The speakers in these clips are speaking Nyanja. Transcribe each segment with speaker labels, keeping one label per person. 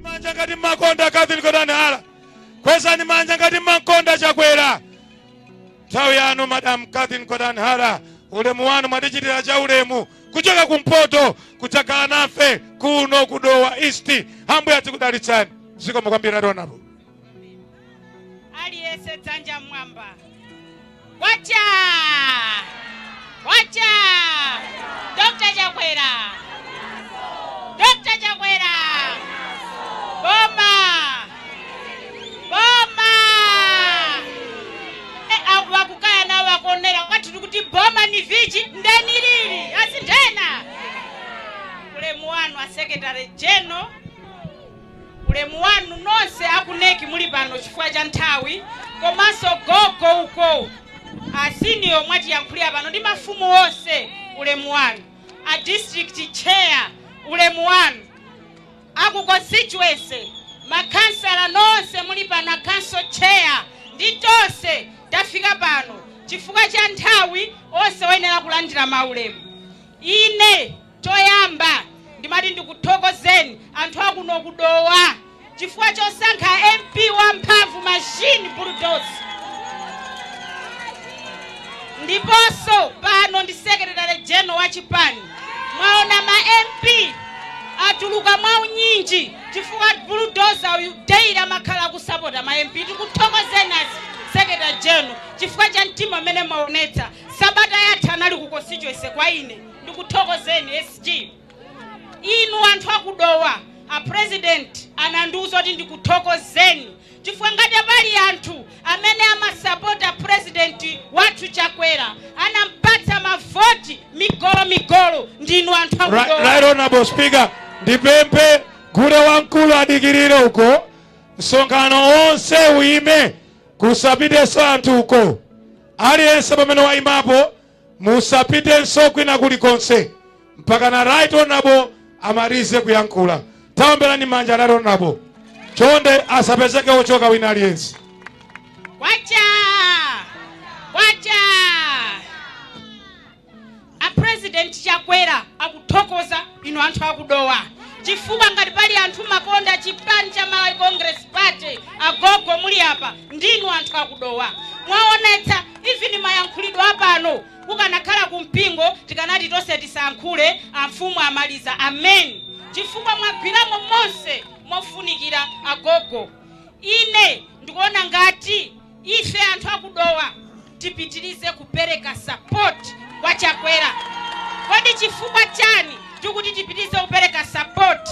Speaker 1: manja ngati mmakonda Catherine Gotani Hara, kwezani manja ngati mmakonda Chakwera. Nthawi yanu Madam Catherine Gotani Hara, ulemu wanu mwatichitira cha ulemu kuchoka kumpoto kudzakhala nafe kuno ku Dowa East. Ambuye adzikudalitsani zikomo kwambiri ationapo. aliyese
Speaker 2: dzanja mmwamba kwacha kwacha dr chakwera dr chakwera boma boma e aku vakukaya navo vakuonera kwati tiri kuti boma ni vichi ndeni riri asi ndena ulemu wanu asekretary general Ulemu wanu nonse aku NEC muli pano chifukwa cha nthawi komanso gogo uko a senior mwatiyankhulira pano ndi mafumu onse ulemu wanu, a district chair ulemu wanu, aku constituency, makhansala nonse muli pano, a council chair ndi tonse tafika pano chifukwa cha nthawi onse oyenera kulandira maulemu. Ine. Choyamba ndimati ndikuthokozeni anthu akuno ku Dowa chifukwa chosankha MP wa mphamvu machine bulldozer. Ndiponso pano ndi secretary general wa chipani mwaona ma MP atuluka mwa unyinji chifukwa bulldozer uyu daily amakhala kusapota ma MP. Tikuthokozeni a secretary general chifukwa cha mtima umene mumaonetsa. Sabata yatha anali ku constituency kwa ine. ndikuthokozeni SG inu anthu aku Dowa a president anandiuza kuti ndikuthokozeni chifukwa ngati pali anthu amene amasapota president wathu Chakwera anampatsa mavoti migolo migolo ndinu anthu aku Dowa Right honorable
Speaker 1: speaker ndipemphe gule wamkulu adikirire uko msonkhano wonse uyime kusapitenso anthu uko aliyense pamene wayimapo Musapitenso kwina kulikonse mpakana Right Honorable amalize kuyankhula. Taomberani manja Right Honorable. Chonde asapezeke ochoka wina aliyense. Kwacha!
Speaker 2: Kwacha! A President Chakwera akuthokoza inu anthu aku Dowa. Chifukwa ngati pali anthu mumakonda chipani cha Malawi Congress Party agogo muli apa ndinu anthu aku Dowa. Mwaonetsa even ndi mayankhulidwe apano kukanakhala ku mpingo tikanati tonse tisayankhule amfumu amaliza amen chifukwa mwagwiramo monse mofunikira agogo ine ndikuona ngati ife anthu aku Dowa tipitirize kupereka support kwa Chakwera kodi chifukwa chani tikuti tipitirize kupereka support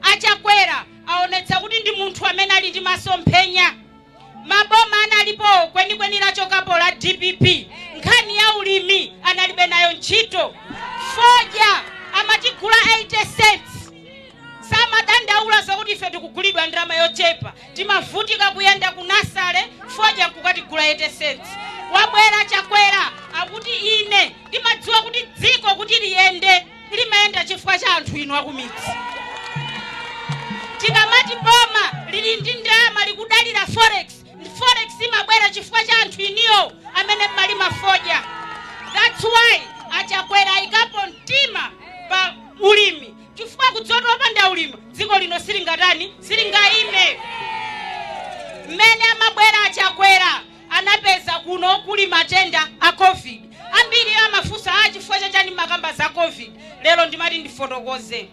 Speaker 2: a Chakwera aonetsa kuti ndi munthu amene ali ndi masomphenya maboma analipowo kwenikweni lachokapo la dpp nkhani ya ulimi analibe nayo ntchito fodya amatigula 80 cents samadandaula zakuti ife tikugulidwa ndalama yochepa timavutika kuyenda ku nasale fodya nkukatigula 80 cents wabwera chakwera akuti ine ndimadziwa kuti dziko kuti liyende limayenda chifukwa cha anthu inu akumidzi tikamati boma lili ndi ndalama likudalira forex forex imabwera chifukwa cha anthu inuyo amene mumalima fodya that's why achakwera ayikapo mtima pa ulimi chifukwa akudziwa zoti popanda ulimi dziko lino silingatani silingayime mmene amabwera achakwera anapeza kuno kuli matenda a covid ambiri amafunsa a chifukwa chachani mumakamba za covid lero ndimati ndifotokoze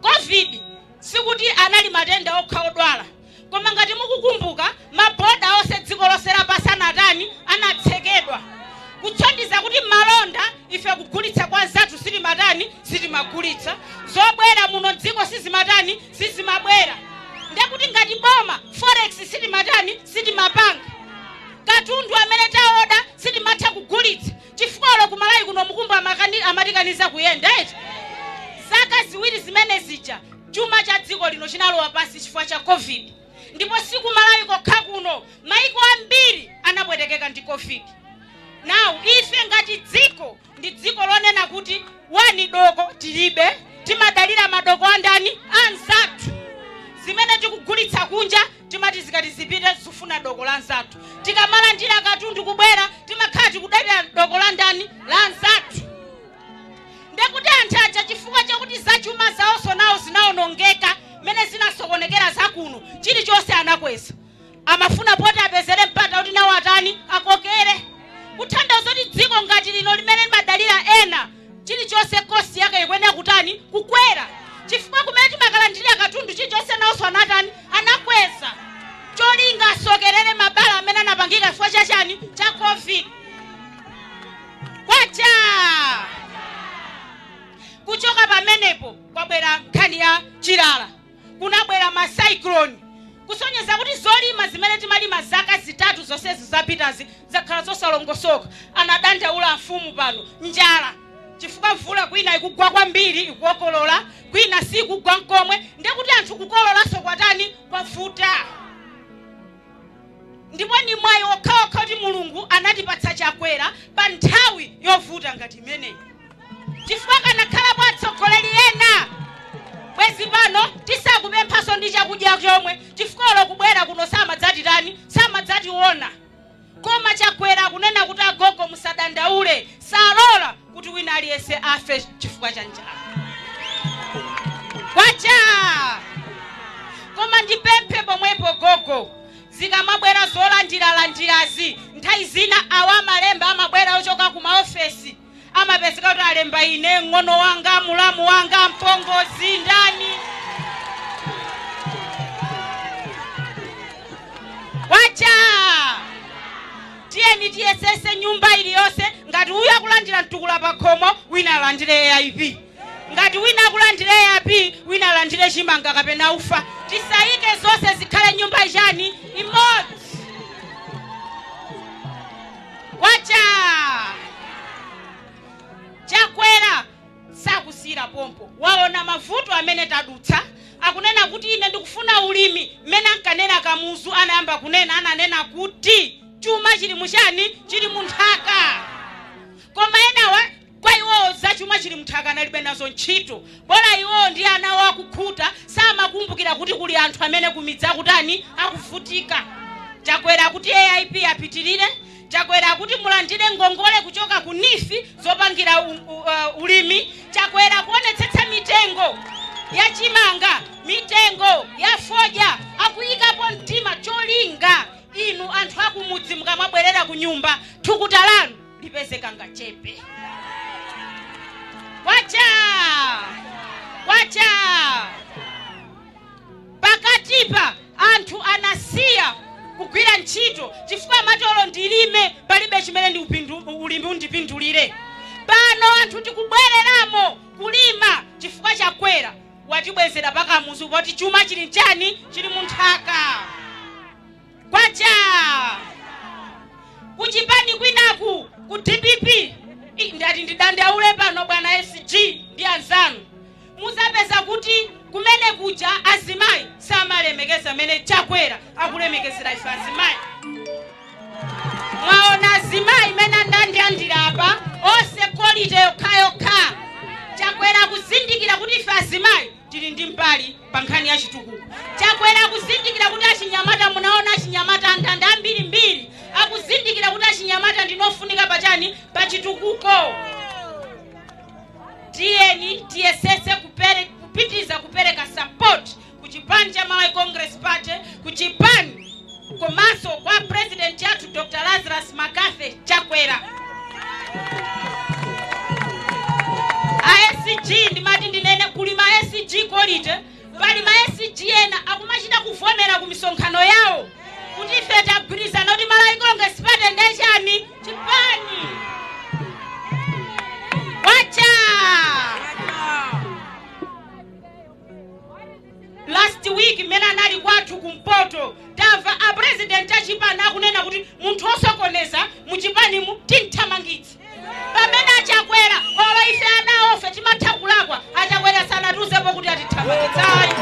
Speaker 2: covid sikuti anali matenda okha odwala koma ngati mukukumbuka maboda onse dziko lonse lapansi anatani anatsekedwa kusonyeza kuti malonda ife kugulitsa kwa anzathu sitimatani sitimagulitsa zobwera muno mdziko sizimatani sizimabwera ndekuti ngati boma forex sitimatani sitimapanga katundu amene taoda sitimatha kugulitsa chifukwa olo kumalawi kuno mukumbu amakani- amatikaniza kuyenda eti zaka ziwiri zimene zija chuma cha dziko lino chinalowa pansi chifukwa cha covid ndipo sikumalawi kokha kuno maiko ambiri anapwetekeka ndi covid now ife ngati dziko ndi dziko lonena kuti one doko tilibe timadalira madoko andani anzathu zimene tikugulitsa kunja timati zikati zipite zikufuna doko la anzathu tikamalandira katundu kubwera timakhala tikudalira doko la ndani la anzathu ndekuti anthu aja chifukwa chakuti zachuma zawonso nawo zinaonongeka mmene zinasokonekera zakuno chilichonse anakweza amafuna poti apezere mpata kuti nawo atani akokere kutanthauza kuti dziko ngati lino limene limadalira ena chilichonse cost yake ikuyenera kutani kukwera chifukwa kumene timakalandilira katundu chilichonse nawonso anatani anakweza cholinga asokerere mabala amene anapangika chifukwa cha chani cha covid kwacha kuchoka pamenepo kwabwera nkhani ya chilala kunabwera ma cyclone kusonyeza kuti zolima zimene timalima zaka zitatu zonsezi zapitazi zakhala zosalongosoka anadandaula amfumu pano njala chifukwa mvula kwina ikugwa kwambiri ikukokolola kwina sikugwa nkomwe ndekuti anthu kukololanso kwatani kwavuta Ndipo ndi mwayi wokhawokha kuti Mulungu anatipatsa Chakwera pa nthawi yovuta ngati imeneyi chifukwa akanakhalapo atsogoleri ena bwezi pano tisakupemphanso ndi chakudya chomwe chifukwa olo kubwera kuno samadzatitani samadzationa koma Chakwera akunena kuti agogo musadandaule salora kuti wina aliyense afe chifukwa cha njala kwacha koma ndipemphe pomwepo gogo zikamabwera zolandiralandirazi nthawi zina awa amalemba amabwera ochoka ku maofesi amapezeka kuti alemba ine ng'ono wanga mulamu wanga mpongozi ndani kwacha Tiyeni tiyesese nyumba iliyonse ngati uyu akulandira mtukula pakhomo wina alandire AIP ngati wina akulandira AIP wina alandire chimanga kapena ufa tisayike zonse zikhale nyumba chani imodzi kwacha chakwera sakusiyira pompo. Waona mavuto amene tadutsa. Akunena kuti, Ine ndikufuna ulimi. Mmene ankanena Kamuzu anayamba kunena, ananena kuti chuma chili mu chani? Chili mu nthaka. Koma enawa kwa iwowo za chuma chili munthaka analibe nazo ntchito. Bola iwowo ndi ana awo akukhuta, samakumbukira kuti kuli anthu amene kumidzi akutani, akuvutika. Chakwera akuti AIP apitirire, Chakwera akuti mulandire ngongole kuchoka ku NEEF zopangira ulimi. Chakwera akuonetsetsa mitengo ya chimanga, mitengo ya fodya akuyikapo mtima cholinga inu anthu akumudzi mukamabwerera kunyumba thukuta lanu lipeze kangachepe. Kwachaa! Kwachaa! Pakatipa anthu anasiya kugwira ntchito chifukwa amati olo ndilime palibe chimene ndi ulimi undipindulire. Pano anthu tikubwereramo kulima chifukwa chakwera watibwezera pakamuzu poti chuma chili nchani chili munthaka. kwacha kuchipani kwinaku ku dpp i- ndati ndidandaule pano bwana sg ndi anzanu muzapeza kuti kumene kuja azimayi samalemekeza mmene chakwera akulemekezera ife azimayi mwaona azimayi mmene andandira apa onse quality yokhayokha chakwera akuzindikira kuti ife azimayi tili ndi mbali pa nkhani ya chitukuko chakwera akuzindikira kuti achinyamata munaona achinyamata andanda ambirimbiri akuzindikira kuti achinyamata ndinu ofunika pachani pa chitukuko tiyeni tiyesese kupitiriza kupereka support ku chipani cha malawi congress party ku chipani komanso kwa president athu Dr Lazarus McCarthy Chakwera a SG ndimati ndinene kuli ma SG quality pali ma SG ena akumachita kuvomera ku misonkhano yawo kuti ife tagwirizana kuti Malawi Congress Party ndiye chani chipani kwacha last week mmene anali kwathu kumpoto tamva a president achipani akunena kuti munthu osokoneza muchipanimu timthamangitse pamene achakwera olo ife ana awofe timatha kulakwa achakwera sanatiuzepo kuti atithamangitse
Speaker 3: ayi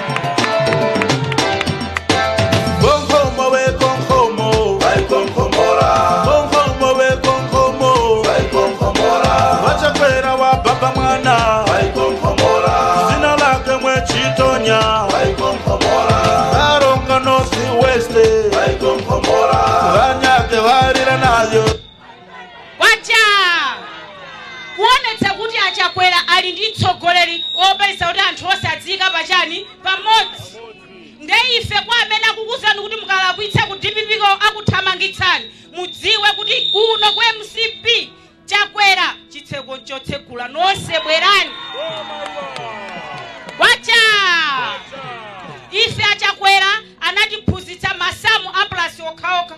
Speaker 3: Konkomo we konkomo, vai konkomora. Konkomo we konkomo, vai konkomora. Wachakwera wa baba mwana, vai konkomora. Zina lake mwechi chitonya vaikomkomora a Karonga north west vaikomkomora vanyake varira nayo kwacha kuonetsa
Speaker 2: kuti achakwera ali ndi mtsogoleri wopesa kuti anthu onse adziyika pachani pamodzi nde ife kwa amene akukuzani kuti mukalakwitsa ku DPP-ko akuthamangitsani mudziwe kuti kuno ku mcp Chakwera chitseko nchotsegula nonse bwerani kwacha ife achakwera anatiphunzitsa masamu a plus okhaokha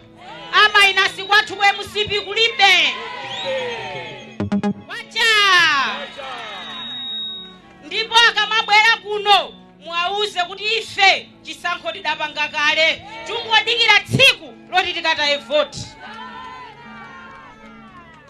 Speaker 2: amainasi kwathu ku mcp kulibe kwacha ndipo akamabwera kuno Muwauze kuti ife chisankho tidapanga kale, tingodikira tsiku loti tikataye voti.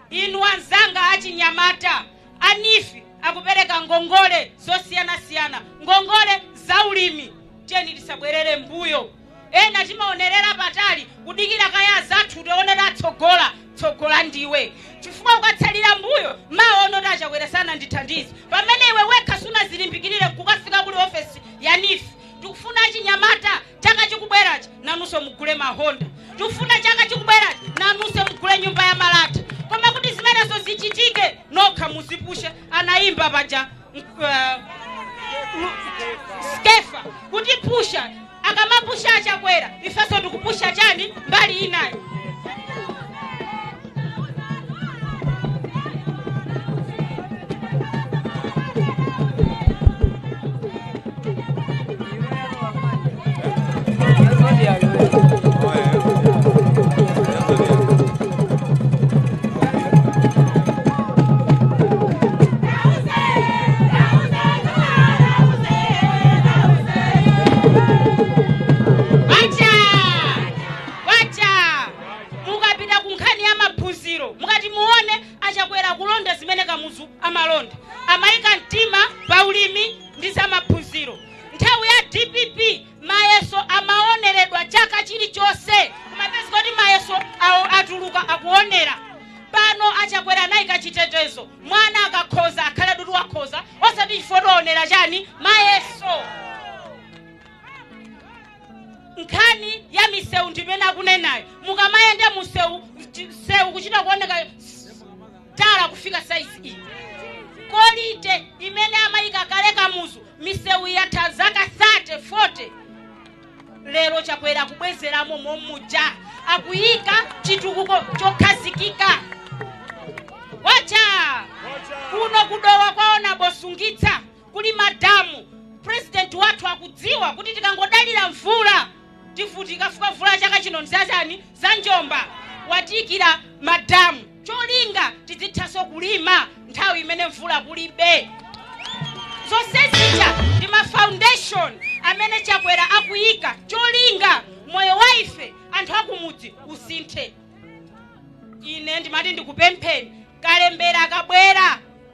Speaker 2: Inu anzanga achinyamata, a neef akupereka ngongole zosiyanasiyana, ngongole za ulimi. Tiyeni tisabwerere m'mbuyo. ena timaonerera patali kudikira kaye azathu tione atsogola tsogola ndiwe chifukwa ukatsalira mbuyo mawa unoti achakwera sanandithandize pamene iwe wekha sunazilimbikirire kukafika kuli ofesi ya neef tikufuna achinyamata chaka chikubwerachi nanunso mugule ma Honda tikufuna chaka chikubwerachi nanunso mugule nyumba ya malata koma kuti zimenezo zichitike nokha muzipushe anayimba paja skefa kutipusha akamapusha achakwera ifeso ndikupusha chani mbali inayo kwacha kwacha mukapita ku nkhani ya maphunziro mukati muone achakwera kulonda zimene kamuzu amalonda amayika mtima pa ulimi ndi za maphunziro. Nthawi ya dpp mayeso amaoneredwa chaka chilichonse kumapezeka kuti mayeso atuluka akuonera pano a Chakwera anayika chitetezo mwana akakhoza akhale kuti wakhoza osati chifukwa choti waonera chani mayeso nkhani ya misewu ndimene akunenayo mukamayenda mu msewu kuchita kuoneka tala kufika saizi iyi kolite imene amayika kale Kamuzu misewu yatha zaka 30 40 lero Chakwera akubwezeramo momuja akuyika chitukuko chokhazikika kwacha kuno kudowa kwaona bosungitsa kuli madamu president wathu akudziwa kuti tikangodalira mvula tivutika chifukwa mvula chaka chino nzachani za njomba watiikira madamu cholinga tizithanso kulima nthawi imene mvula kulibe. Zonse zija ndi ma foundation amene Chakwera akuyika cholinga moyo wa ife anthu akumudzi usinthe. Ine ndimati ndikupempheni kalembera akubwera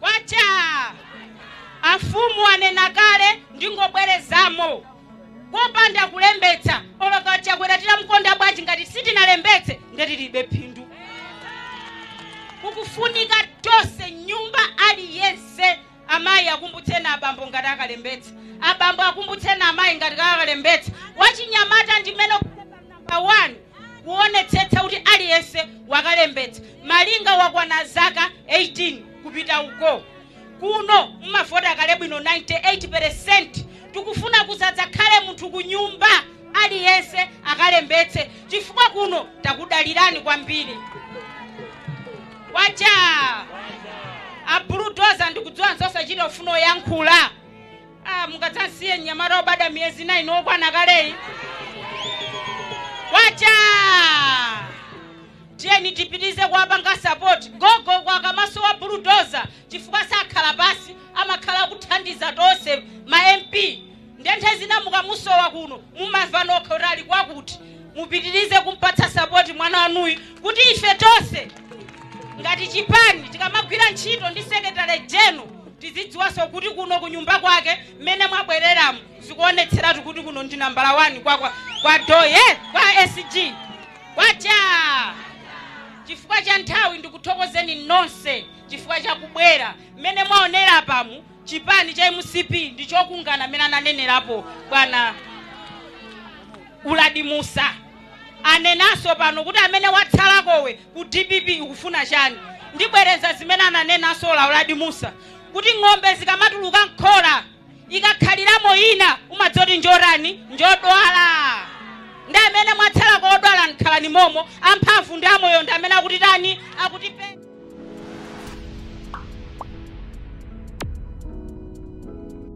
Speaker 2: Kwacha! Afumu anena kale ndingobwerezamo. Kopanda kulembetsa olo Chakwera titamkonda bwanji ngati sitinalembetse nde tilibe phindu. Kukufunika tonse mnyumba aliyense amayi akumbutseni abambo kuti akalembetse. Abambo akumbutseni amayi kuti akalembetse. Wachinyamata ndimene number one kuonetsetsa kuti aliyense wakalembetsa malinga wakwana zaka 18 kupita uko kuno mumavota kale bwino 98 peresenti tikufuna kusadzakhale munthu kunyumba aliyense akalembetse chifukwa kuno takudalirani kwambiri kwacha abuludoza ndikudziwa nzosachita kufuna kuyankhula Ah, mungadzamsiye mnyamata obadwa miyezi 9 okwana kaleyi kwacha tiyeni tipitirize kuwapanga sapoti gogo kwa kamaso wa buludoza chifukwa sakhala pansi amakhala akuthandiza tonse ma mp nde nthawi zina mukamusowa kuno mumamva nokha kuti ali kwakuti mupitirize kumpatsa sapoti mwana wanuyu kuti ife tonse ngati chipani tikamagwira ntchito ndi secretary general Tizidziwanso kuti kuno kunyumba kwake mmene mwabwereramu zikuonetseratu kuti kuno ndi nambala wani kwa Doye kwa SG kwacha chifukwa cha nthawi ndikuthokozeni nonse chifukwa cha kubwera mmene mwaonera apamu chipani cha mcp ndi chokungana mmene ananenerapo bwana Uladi Mussa anenanso pano kuti amene watsalakowe ku dpp ukufuna chani ndibwereza zimene ananenanso a Uladi Musa kuti ng'ombe zikamatuluka mkhola ikakhaliramo ina umadziwa kuti njotani njodwala ndi amene mwatsalako odwala khalani momo amphamvu ndi amoyo ndi amene akutitani akutipe